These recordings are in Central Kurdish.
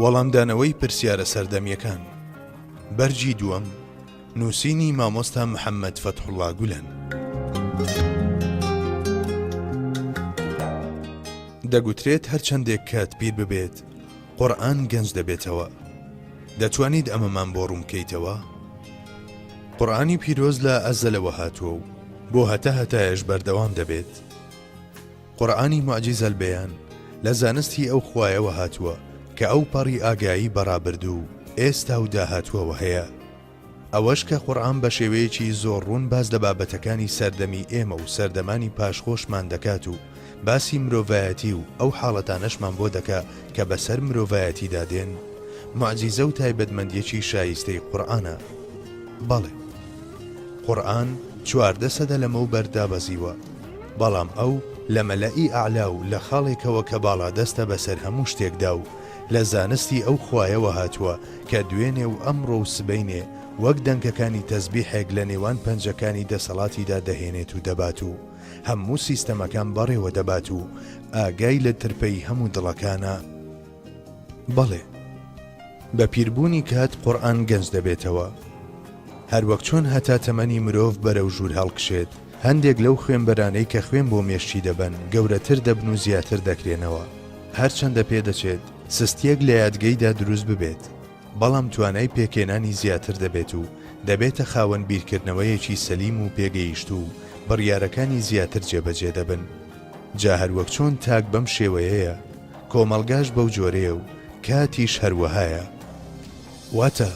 وەڵامدانەوەی پرسیارە سەردەمیەکان بەرگی دووەم نووسینی مامۆستا محەممەد فەتحوڵا گولەن. دەگوترێت هەرچەندێک کات پیر ببێت قورآن گەنج دەبێتەوە دەتوانیت ئەمەمان بۆ ڕوونکەیتەوە قورآانی پیرۆز لە ئەزەلەوە هاتووە و بۆ هەتا هەتایش بەردەوام دەبێت قورئانی موعجیز البیان لە زانستی ئەو خوایەوە هاتووە کە ئەو پەڕی ئاگایی بە ڕابردوو و ئێستا و داهاتووەوە هەیە. ئەوەش کە قورئان بە شێوەیەکی زۆر ڕوون باس لە بابەتەکانی سەردەمی ئێمە و سەردەمانی پاش خۆشمان دەکات و باسی مرۆڤایەتی و ئەو حاڵەتانەشمان بۆ دەکا کە بە سەر مرۆڤایەتیدا دێن موعجیزە و تایبەتمەندیەکی شایستەی قورئانە. بەڵێ. قورئان چواردە سەدە لەمەو بەر دابەزیوە. بەڵام ئەو لە مەلەئی ئەعلا و لە خاڵێکەوە کە باڵادەستە بەسەر هەموو شتێکدا و لە زانستی ئەو خوایەوە هاتووە کە دوێنێ و ئەمڕۆ و سبەینێ وەک دەنکەکانی تەزبیحێک لە نێوان پەنجەکانی دەسەڵاتیدا دەهێنێت و دەبات و هەموو سیستەمەکان بەڕێوە دەبات و ئاگای لە ترپەی هەموو دڵەکانە. بەڵێ بە پیربوونی کات قورئان گەنج دەبێتەوە هەروەک چۆن هەتا تەمەنی مرۆڤ بەرەو ژوور هەڵکشێت هەندێک لەو خوێنبەرانەی کە خوێن بۆ مێشکی دەبەن گەورەتر دەبن و زیاتر دەکرێنەوە هەرچەندە پێدەچێت سستیەک لە یادگەیدا دروست ببێت بەڵام توانای پێکێنانی زیاتر دەبێت و دەبێتە خاوەن بیرکردنەوەیەکی سەلیم و پێگەیشت و بڕیارەکانی زیاتر جێبەجێ دەبن جا هەروەک چۆن تاک بەم شێوەیەیە کۆمەڵگاش بەو جۆرەیە و کاتیش هەروەهایە. واتە،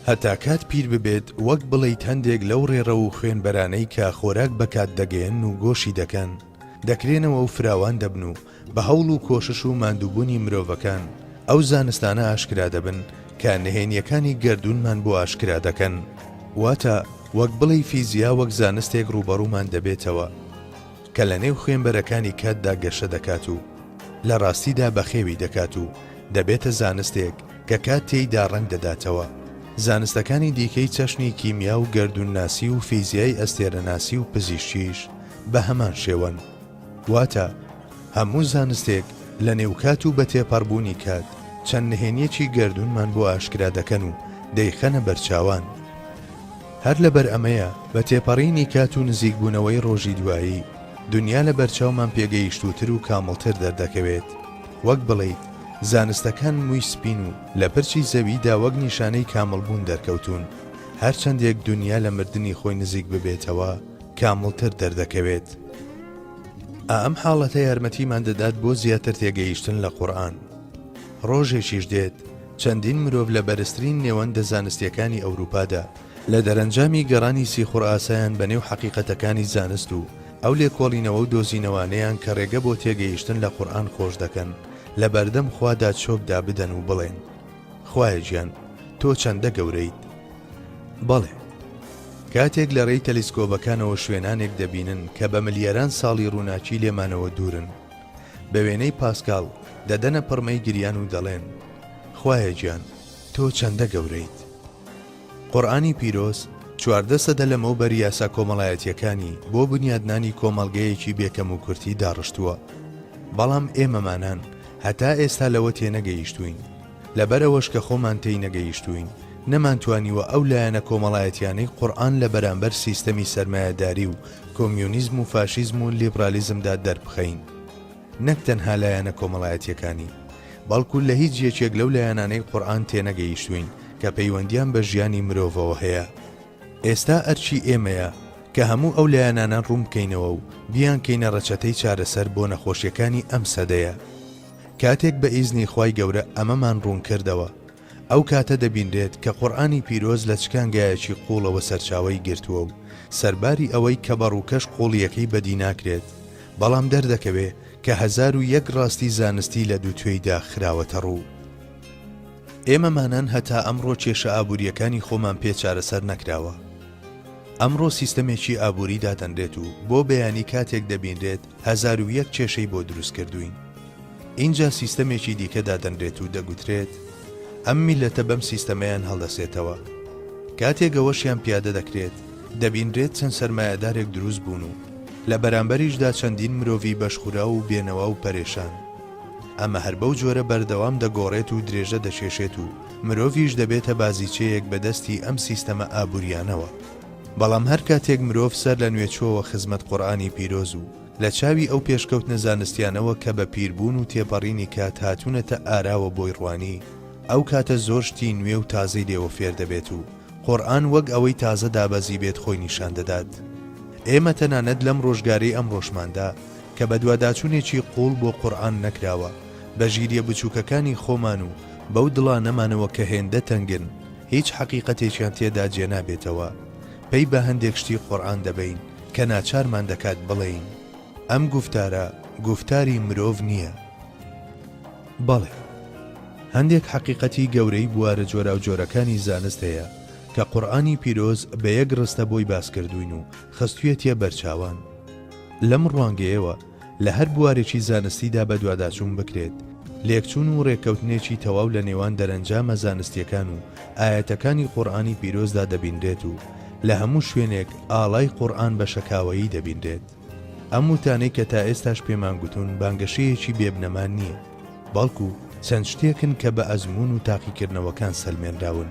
هەتا کات پیر ببێت وەک بڵێیت هەندێک لەو ڕێڕەو و خوێنبەرانەی کە خۆراک بە کات دەگەیەنن و گۆشی دەکەن، دەکرێنەوە و فراوان دەبن و بە هەوڵ و کۆشش و ماندووبوونی مرۆڤەکان ئەو زانستانە ئاشکرا دەبن کە نهێنییەکانی گەردوونمان بۆ ئاشکرا دەکەن. واتە، وەک بڵێی فیزیا وەک زانستێک ڕووبەڕوومان دەبێتەوە. کە لە نێو خوێنبەرەکانی کاتدا گەشە دەکات و لە ڕاستیدا بەخێوی دەکات و دەبێتە زانستێک کە کات تێیدا ڕەنگ دەداتەوە. زانستەکانی دیکەی چەشنی کیمیا و گەردوونناسی و فیزیای ئەستێرەناسی و پزیشکیش بە هەمان شێوەن. واتە هەموو زانستێک لە نێو کات و بە تێپەڕبوونی کات چەند نهێنییەکی گەردوونمان بۆ ئاشکرا دەکەن و دەیخەنە بەرچاوان. هەر لەبەر ئەمەیە بە تێپەڕینی کات و نزیکبوونەوەی ڕۆژی دوایی، دونیا لە بەرچاومان پێگەیشتووتر و کامڵتر دەردەکەوێت. وەک بڵێیت زانستەکان مووی سپین و لە پرچی زەویدا وەک نیشانەی کامڵبوون دەرکەوتوون. هەر چەندێک دونیا لە مردنی خۆی نزیک ببێتەوە، کامڵتر دەردەکەوێت. ئا ئەم حاڵەتە یارمەتیمان دەدات بۆ زیاتر تێگەیشتن لە قورئان. ڕۆژێکیش دێت، چەندین مرۆڤ لە بەرزترین نێوەندە زانستییەکانی ئەوروپادا، لە دەرەنجامی گەڕانی سیخوڕ ئاسایان بە نێو حەقیقەتەکانی زانست و ئەو لێکۆڵینەوە و دۆزینەوانەیان کە ڕێگە بۆ تێگەیشتن لە قورئان خۆش دەکەن، لە بەردەم خوادا چۆک دابدەن و بڵێن، خوایە گیان، تۆ چەندە گەورەیت! بەڵێ! کاتێک لە ڕێی تەلیسکۆبەکانەوە شوێنانێک دەبینن کە بە ملیاران ساڵی ڕووناکی لێمانەوە دوورن، بە وێنەی پاسکال دەدەنە پڕمەی گریان و دەڵێن، خوایە گیان تۆ چەندە گەورەیت. قورئانی پیرۆز چواردە سەدە لەمەوبەر یاسا کۆمەڵایەتییەکانی بۆ بنیادنانی کۆمەڵگەیەکی بێ کەموکورتی داڕشتووە، بەڵام ئێمەمانان هەتا ئێستا لەوە تێنەگەیشتووین، لەبەرئەوەش کە خۆمان تێینەگەیشتووین، نەمانتوانیوە ئەو لایەنە کۆمەڵایەتیانەی قورئان لە بەرامبەر سیستەمی سەرمایەداری و کۆمیونیزم و فاشیزم و لیبرالیزمدا دەربخەین. نەک تەنها لایەنە کۆمەڵایەتیەکانی، بەڵکو لە هیچ یەکێک لەو لایەنانەی قورئان تێنەگەیشتووین کە پەیوەندیان بە ژیانی مرۆڤەوە هەیە. ئێستا ئەرکی ئێمەیە کە هەموو ئەو لایەنانە ڕوونبکەینەوە و بیانکەینە ڕەچەتەی چارەسەر بۆ نەخۆشیەکانی ئەم سەدەیە. کاتێک بە ئیزنی خوای گەورە ئەمەمان ڕوون کردەوە، ئەو کاتە دەبینرێت کە قورئانی پیرۆز لە چ کانگایەکی قووڵەوە سەرچاوەی گرتووە و سەرباری ئەوەی کە بە ڕووکەش قووڵییەکەی بەدی ناکرێت بەڵام دەردەکەوێ کە هەزار و یەک ڕاستی زانستی لە دوو توێیدا خراوەتە ڕوو. ئێمە مانان هەتا ئەمڕۆ کێشە ئابوورییەکانی خۆمان پێ چارەسەر نەکراوە. ئەمڕۆ سیستەمێکی ئابووری دادەنرێت و بۆ بەیانی کاتێک دەبینرێت هەزار و یەک کێشەی بۆ دروست کردووین. ئینجا سیستەمێکی دیکە دادەنرێت و دەگوترێت، ئەم میللەتە بەم سیستەمەیان هەڵدەسێتەوە. کاتێک ئەوەشیان پیادە دەکرێت، دەبینرێت چەند سەرمایەدارێک دروست بوون و لە بەرامبەریشدا چەندین مرۆڤی بەشخوراو و بێنەوا و پەرێشان. ئەمە هەر بەو جۆرە بەردەوام دەگۆڕێت و درێژە دەکێشێت و مرۆڤیش دەبێتە بازیچەیەک بە دەستی ئەم سیستەمە ئابوورییانەوە. بەڵام هەر کاتێک مرۆڤ سەر لە نوێ چۆوە خزمەت قورئانی پیرۆز و لە چاوی ئەو پێشکەوتنە زانستیانەوە کە بە پیربوون و تێپەڕینی کات هاتوونەتە ئاراوە بۆی ڕوانی، ئەو کاتە زۆر شتی نوێ و تازەی لێوە فێر دەبێت و قورئان وەک ئەوەی تازە دابەزیبێت خۆی نیشان دەدات. ئێمە تەنانەت لەم ڕۆژگارەی ئەمڕۆشماندا کە بەدواداچوونێکی قووڵ بۆ قورئان نەکراوە، بە ژیرییە بچووکەکانی خۆمان و بەو دڵانەمانەوە کە هێندە تەنگن، هیچ حەقیقەتێکیان تێدا جێنابێتەوە، پەی بە هەندێک شتی قورئان دەبەین کە ناچارمان دەکات بڵێین، ئەم گوفتارە گوفتاری مرۆڤ نییە. بەڵێ، هەندێک حەقیقەتی گەورەی بوارە جۆراوجۆرەکانی زانست هەیە کە قورئانی پیرۆز بە یەک ڕستە بۆی باسکردووین و خستوویەتیە بەرچاوان. لەم ڕوانگەیەوە، لە هەر بوارێکی زانستیدا بەدواداچوون بکرێت، لێکچوون و رێککەوتنێکی تەواو لە نێوان دەرەنجامە زانستییەکان و ئایەتەکانی قورئانی پیرۆزدا دەبینرێت و لە هەموو شوێنێک ئاڵای قورئان بە شەکاوەیی دەبینرێت. ئەم وتانەی کە تا ئێستاش پێمان گوتوون بانگەشەیەکی بێ بنەما نییە، بەڵکو چەند شتێکن کە بە ئەزموون و تاقیکردنەوەکان سەلمێنراون.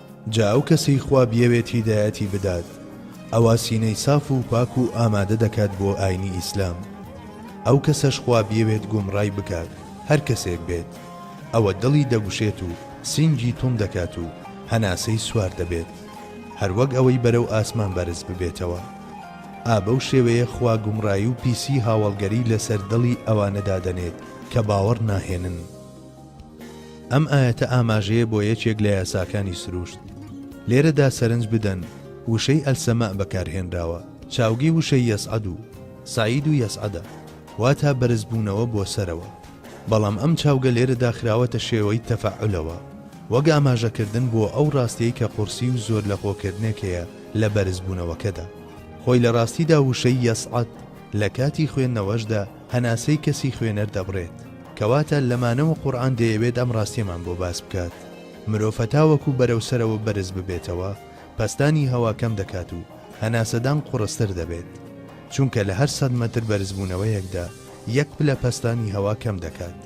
جا ئەو کەسەی خوا بیەوێت هیدایەتی بدات ئەوا سینەی ساف و پاک و ئامادە دەکات بۆ ئاینی ئیسلام ئەو کەسەش خوا بیەوێت گومڕای بکات هەر کەسێک بێت ئەوە دڵی دەگوشێت و سینگی توند دەکات و هەناسەی سوار دەبێت هەر وەک ئەوەی بەرەو ئاسمان بەرز ببێتەوە ئا بەو شێوەیە خوا گومڕایی و پیسی هاوەڵگەری لەسەر دڵی ئەوانە دادەنێت کە باوەڕ ناهێنن. ئەم ئایەتە ئاماژەیە بۆ یەکێک لە یاساکانی سرووشت. لێرەدا سەرنج بدەن وشەی ئەلسەماء بەکارهێنراوە، چاوگی وشەی یەسعەد و سەعید و یەسعەدە، واتا بەرزبوونەوە بۆ سەرەوە. بەڵام ئەم چاوگە لێرەدا خراوەتە شێوەی تەفەعولەوە، وەک ئاماژەکردن بۆ ئەو ڕاستیەی کە قورسی و زۆرلەخۆکردنێک هەیە لە بەرزبوونەوەکەدا. خۆی لە ڕاستیدا وشەی یەسعەد لە کاتی خوێندنەوەشدا، هەناسەی کەسی خوێنەر دەبڕێت. کەواتە لەمانەوە قورئان دەیەوێت ئەم ڕاستیەمان بۆ باس بکات، مرۆڤ هەتاوەکو بەرەو سەرەوە بەرز ببێتەوە پەستانی هەوا کەم دەکات و هەناسەدان قوڕستر دەبێت، چونکە لە هەر سەد مەتر بەرزبوونەوەیەکدا یەک پلە پەستانی هەوا کەم دەکات.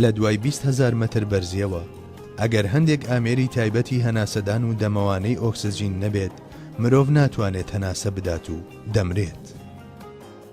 لە دوای بیست هەزار مەتر بەرزیەوە ئەگەر هەندێک ئامێری تایبەتی هەناسەدان و دەمەوانەی ئۆکسجین نەبێت مرۆڤ ناتوانێت هەناسە بدات و دەمرێت.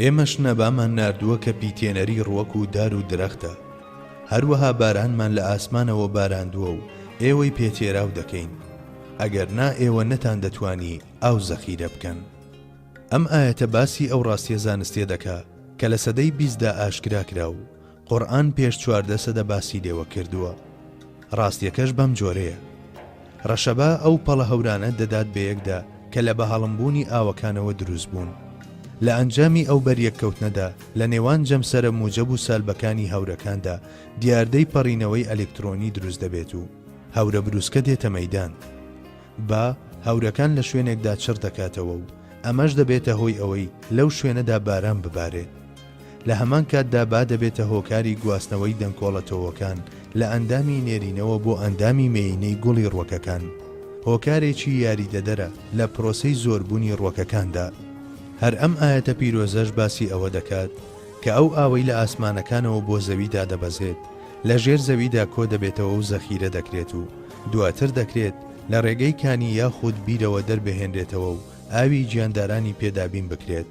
ئێمەش نەبامان ناردووە کە پیتێنەری ڕووەک و دار و درەختە، هەروەها بارانمان لە ئاسمانەوە باراندووە و ئێوەی پێ تێراو دەکەین، ئەگەر نا ئێوە نەتاندەتوانی ئاو زەخیرە بکەن. ئەم ئایەتە باسی ئەو ڕاستیە زانستیە دەکا کە لە سەدەی بیستدا ئاشکرا کرا و، قورئان پێش چواردە سەدە باسی لێوە کردووە ڕاستیەکەش بەم جۆرەیە ڕەشەبا ئەو پەڵە هەورانە دەدات بەیەکدا کە لە بەهەڵمبوونی ئاوەکانەوە دروست بوون لە ئەنجامی ئەو بەریەککەوتنەدا لە نێوان جەمسەرە موجەب و سالبەکانی هەورەکاندا دیاردەی پەڕینەوەی ئەلکترۆنی دروست دەبێت و هەورە بروسکە دێتە مەدان با هەورەکان لە شوێنێکدا چڕ دەکاتەوە و ئەمەش دەبێتە هۆی ئەوەی لەو شوێنەدا باران ببارێت لە هەمان کاتدا با دەبێتە هۆکاری گواستنەوەی دەنکۆڵە تۆوەکان لە ئەندامی نێرینەوە بۆ ئەندامی مێیینەی گوڵی ڕوەکەکان هۆکارێکی یاریدەدەرە لە پرۆسەی زۆربونی ڕوەکەکاندا هەر ئەم ئایەتە پیرۆزەش باسی ئەوە دەکات کە ئەو ئاوەی لە ئاسمانەکانەوە بۆ زەوی دادەبەزێت لە ژێر زەویدا کۆ دەبێتەوە و زەخیرە دەکرێت و دواتر دەکرێت لە ڕێگەی کانی یاخود بیرەوە دەربهێنرێتەوە و ئاوی گیاندارانی پێ دابین بکرێت.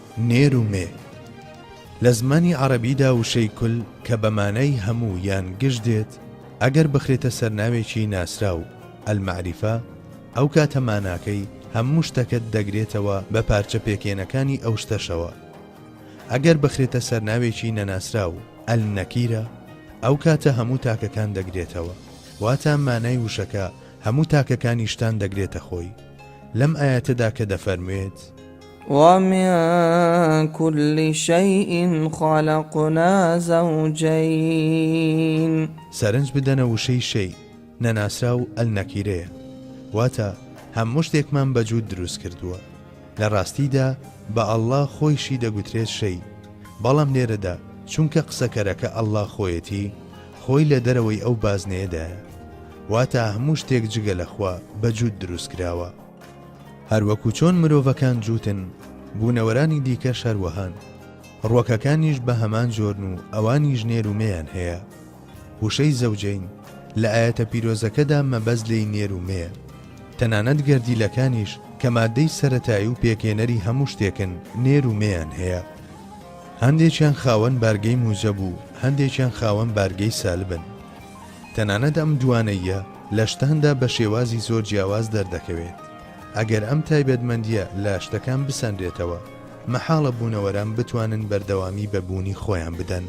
نێر و مێ، لە زمانی عەڕەبیدا وشەی کل کە بە مانای هەموو یان گشت دێت ئەگەر بخرێتە سەر ناوێکی ناسراو، المعرفە، ئەو کاتە ماناکەی هەموو شتەکەت دەگرێتەوە بە پارچە پێکێنەکانی ئەو شتەشەوە. ئەگەر بخرێتە سەر ناوێکی نەناسراو، النکیرە، ئەو کاتە هەموو تاکەکان دەگرێتەوە. واتا مانای وشەکە هەموو تاکەکانی شتان دەگرێتە خۆی. لەم ئایەتەدا کە دەفەرموێت. ومن کل شیء خلقنا زوجین. سەرنج بدەنە وشەی شیء نەناسراو النکیرەیە واتە هەموو شتێکمان بە جووت دروست کردووە لە ڕاستیدا بە اللە خۆیشی دەگوترێت شیء بەڵام لێرەدا چونکە قسەکەرەکە اللە خۆیەتی خۆی لە دەرەوەی ئەو بازنەیەدایە واتە هەموو شتێک جگە لە خوا بە جووت دروست کراوە. هەروەکو چۆن مرۆڤەکان جووتن، بوونەوەرانی دیکەش هەروەهان. ڕووەکەکانیش بە هەمان جۆرن و ئەوانیش نێر و مێیان هەیە. وشەی زەوجەین لە ئایەتە پیرۆزەکەدا مەبەست لێی نێر و مێیە. تەنانەت گەردیلەکانیش کە ماددەی سەرەتایی و پێکهێنەری هەموو شتێکن نێر و مێیان هەیە. هەندێکیان خاوەن بارگەی موجەب و هەندێکیان خاوەن بارگەی سالبن. تەنانەت ئەم دووانەییە لە شتاندا بە شێوازی زۆر جیاواز دەردەکەوێت. ئەگەر ئەم تایبەتمەندییە لە شتەکان بسەنرێتەوە، مەحاڵە بوونەوەران بتوانن بەردەوامی بە بوونی خۆیان بدەن.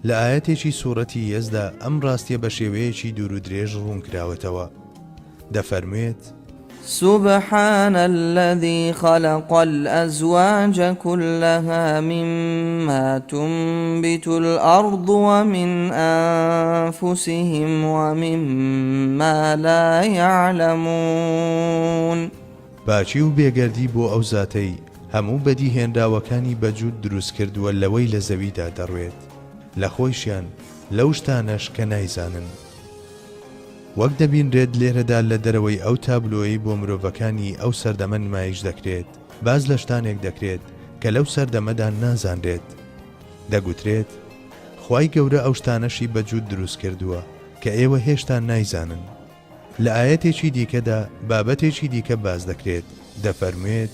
لە ئایەتێکی سوڕەتی یەسدا ئەم ڕاستییە بە شێوەیەکی دوورودرێژ ڕوونکراوەتەوە. دەفەرموێت. سبحان الذی خلق الازواج کلها مما تنبت الارض ومن انفسهم ومما لا یعلمون. پاکی و بێگەردی بۆ ئەو زاتەی هەموو بەدیهێنراوەکانی بە جووت دروست کردووە لەوەی لە زەویدا دەڕوێت لە خۆیشیان لەو شتانەش کە نایزانن. وەک دەبینرێت لێرەدا لە دەرەوەی ئەو تابلۆیەی بۆ مرۆڤەکانی ئەو سەردەمە نمایش دەکرێت، باس لە شتانێک دەکرێت کە لەو سەردەمەدا نازانرێت. دەگوترێت، خوای گەورە ئەو شتانەشی بە جووت دروست کردووە کە ئێوە هێشتا نایزانن. لە ئایەتێکی دیکەدا بابەتێکی دیکە باس دەکرێت، دەفەرموێت،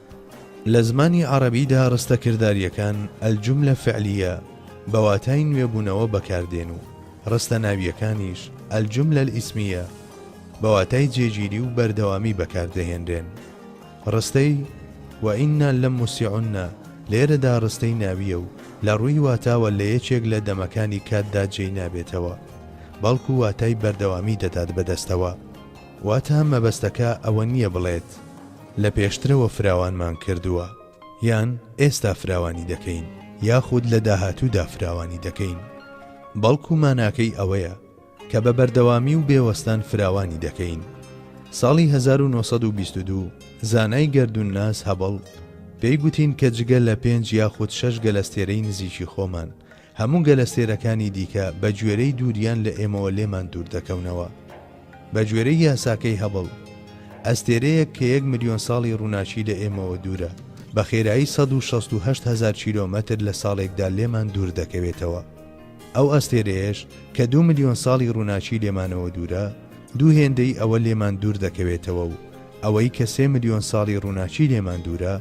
لە زمانی عەڕەبیدا ڕستە کردارییەکان، الجملە فعلیە، بە واتای نوێبوونەوە بەکاردێن و ڕستە ناوییەکانیش، الجملە الاسمیە، بە واتای جێگیری و بەردەوامی بەکاردەهێنرێن. ڕستەی، وئینا لموسیعون، لێرەدا ڕستەی ناوییە و لە ڕووی واتاوە لە یەکێک لە دەمەکانی کاتدا جێی نابێتەوە، بەڵکو واتای بەردەوامی دەدات بەدەستەوە. واتە مەبەستەکە ئەوە نییە بڵێت لە پێشترەوە فراوانمان کردووە، یان ئێستا فراوانی دەکەین، یاخود لە داهاتوودا فراوانی دەکەین، بەڵکو ماناکەی ئەوەیە کە بە بەردەوامی و بێ وەستان فراوانی دەکەین. ساڵی هەزار و نۆ سەد و بیست و دوو زانای گەردوونناس هەبڵ پێی گوتین کە جگە لە پێنج یاخود شەش گەلەستێرەی نزیکی خۆمان هەموو گەلە سێرەکانی دیکە بە گوێرەی دووریان لە ئێمەوە لێمان دوور دەکەونەوە. بە گوێرەی یاساکەی هەبڵ، ئەستێرەیەک کە یەک ملیۆن ساڵی ڕووناکی لە ئێمەوە دوورە، بە خێرایی سەد و شەست و هەشت هەزار کیلۆمەتر لە ساڵێکدا لێمان دوور دەکەوێتەوە. ئەو ئەستێرەیەش کە دوو ملیۆن ساڵی ڕووناکی لێمانەوە دوورە، دوو هێندەی ئەوە لێمان دوور دەکەوێتەوە و ئەوەی کە سێ ملیۆن ساڵی ڕووناکی لێمان دوورە،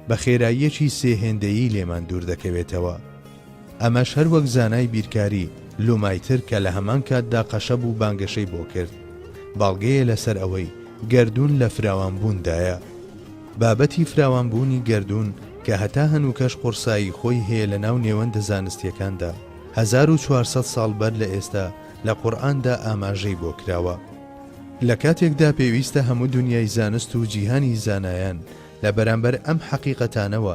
بە خێراییەکی سێ هێندەیی لێمان دوور دەکەوێتەوە. ئەمەش هەر وەک زانای بیرکاری، لومایتر کە لە هەمان کاتدا قەشە بوو بانگەشەی بۆ کرد، بەڵگەیە لەسەر ئەوەی گەردوون لە فراوانبووندایە. بابەتی فراوانبوونی گەردوون کە هەتا هەنووکەش قوڕسایی خۆی هەیە لەناو نێوەندە زانستییەکاندا، هەزار و چوار سەد ساڵ بەر لە ئێستا لە قورئاندا ئاماژەی بۆ کراوە. لە کاتێکدا پێویستە هەموو دونیای زانست و جیهانی زانایان لە بەرامبەر ئەم حەقیقەتانەوە،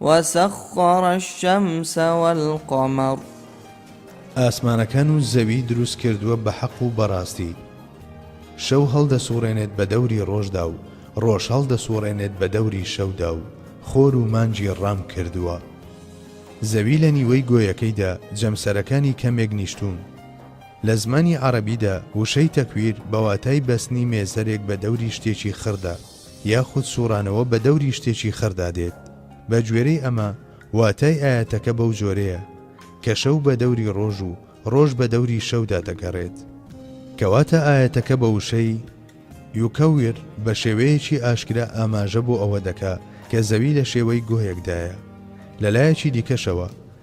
وسخر الشمس والقمر. ئاسمانەکان و زەوی دروست کردووە بە حەق و بەڕاستی. شەو هەڵدەسوڕێنێت بە دەوری ڕۆژدا و ڕۆژ هەڵدەسوڕێنێت بە دەوری شەودا و خۆر و مانگی ڕام کردووە. زەوی لە نیوەی گۆیەکەیدا جەمسەرەکانی کەمێک نیشتوون. لە زمانی عەڕەبیدا وشەی تەکویر بە واتای بەستنی مێزەرێک بە دەوری شتێکی خڕدا. یاخود سوڕانەوە بە دەوری شتێکی خڕدا دێت، بە گوێرەی ئەمە واتای ئایەتەکە بەو جۆرەیە، کە شەو بە دەوری ڕۆژ و ڕۆژ بە دەوری شەودا دەگەڕێت. کەواتە ئایەتەکە بە وشەی، یکور، بە شێوەیەکی ئاشکرا ئاماژە بۆ ئەوە دەکا کە زەوی لە شێوەی گۆیەکدایە. لە لایەکی دیکەشەوە،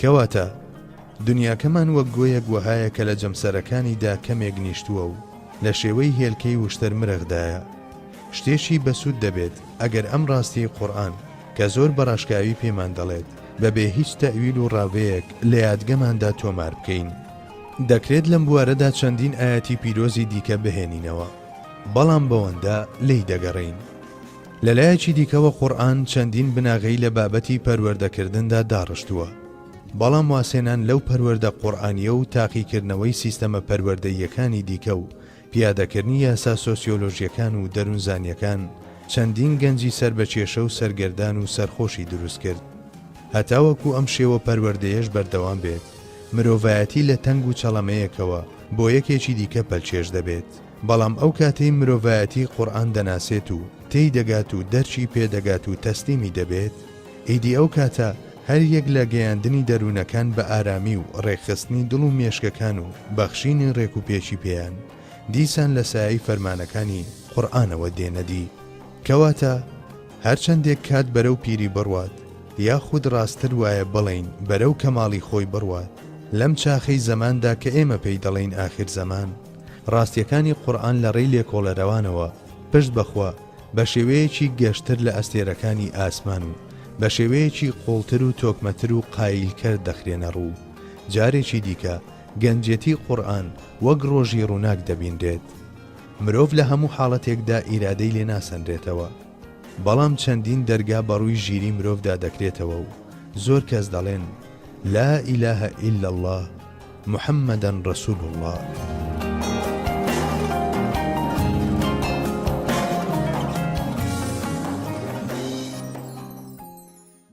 کەواتە دنیاکەمان وەک گۆیەک وەهایە کە لە جەمسەرەکانیدا کەمێک نیشتووە و لە شێوەی هێلکەی وشتەر مرەخدایە. شتێکی بەسوود دەبێت ئەگەر ئەم ڕاستیەی قورئان کە زۆر بە ڕاشکاوی پێمان دەڵێت بە بێ هیچ تەئویل و ڕاڤەیەک لە یادگەماندا تۆمار بکەین. دەکرێت لەم بوارەدا چەندین ئایەتی پیرۆزی دیکە بهێنینەوە، بەڵام بەوەندە لێی دەگەڕێین. لە لایەکی دیکەوە قورئان چەندین بناغەی لە بابەتی پەروەردەکردندا داڕشتووە، بەڵام وازهێنان لەو پەروەردە قورئانییە و تاقیکردنەوەی سیستەمە پەروەردەییەکانی دیکە و پیادەکردنی یاسا سۆسیۆلۆژییەکان و دەروونزانییەکان چەندین گەنجی سەر بە کێشە و سەرگەردان و سەرخۆشی دروست کرد. هەتاوەکو ئەم شێوە پەروەردەیەش بەردەوام بێت، مرۆڤایەتی لە تەنگ و چەڵەمەیەکەوە بۆ یەکێکی دیکە پەلکێش دەبێت. بەڵام ئەو کاتەی مرۆڤایەتی قورئان دەناسێت و تێی دەگات و دەرکی پێ دەگات و تەسلیمی دەبێت، ئیدی ئەو کاتە هەر یەک لە گەیاندنی دەروونەکان بە ئارامی و ڕێکخستنی دڵ و مێشکەکان و بەخشینی ڕێک و پێکی پێیان، دیسان لە سایەی فەرمانەکانی قورئانەوە دێنە دی. کەواتە هەر چەندێک کات بەرەو پیری بڕوات، یاخود ڕاستتر وایە بڵێین بەرەو کەماڵی خۆی بڕوات، لەم چاخەی زەماندا کە ئێمە پێی دەڵێین ئاخیرزەمان، ڕاستییەکانی قورئان لە ڕێی لێکۆڵەرەوانەوە پشت بە خوا بە شێوەیەکی گەشتر لە ئەستێرەکانی ئاسمان و بە شێوەیەکی قووڵتر و تۆکمەتر و قاییلکەر دەخرێنە ڕوو و جارێکی دیکە گەنجێتی قورئان وەک ڕۆژی ڕووناک دەبینرێت. مرۆڤ لە هەموو حاڵەتێکدا ئیرادەی لێ ناسەنرێتەوە. بەڵام چەندین دەرگا بە ڕووی ژیری مرۆڤدا دەکرێتەوە و زۆر کەس دەڵێن، لا الە الا اللە، محمدا رسول اللە.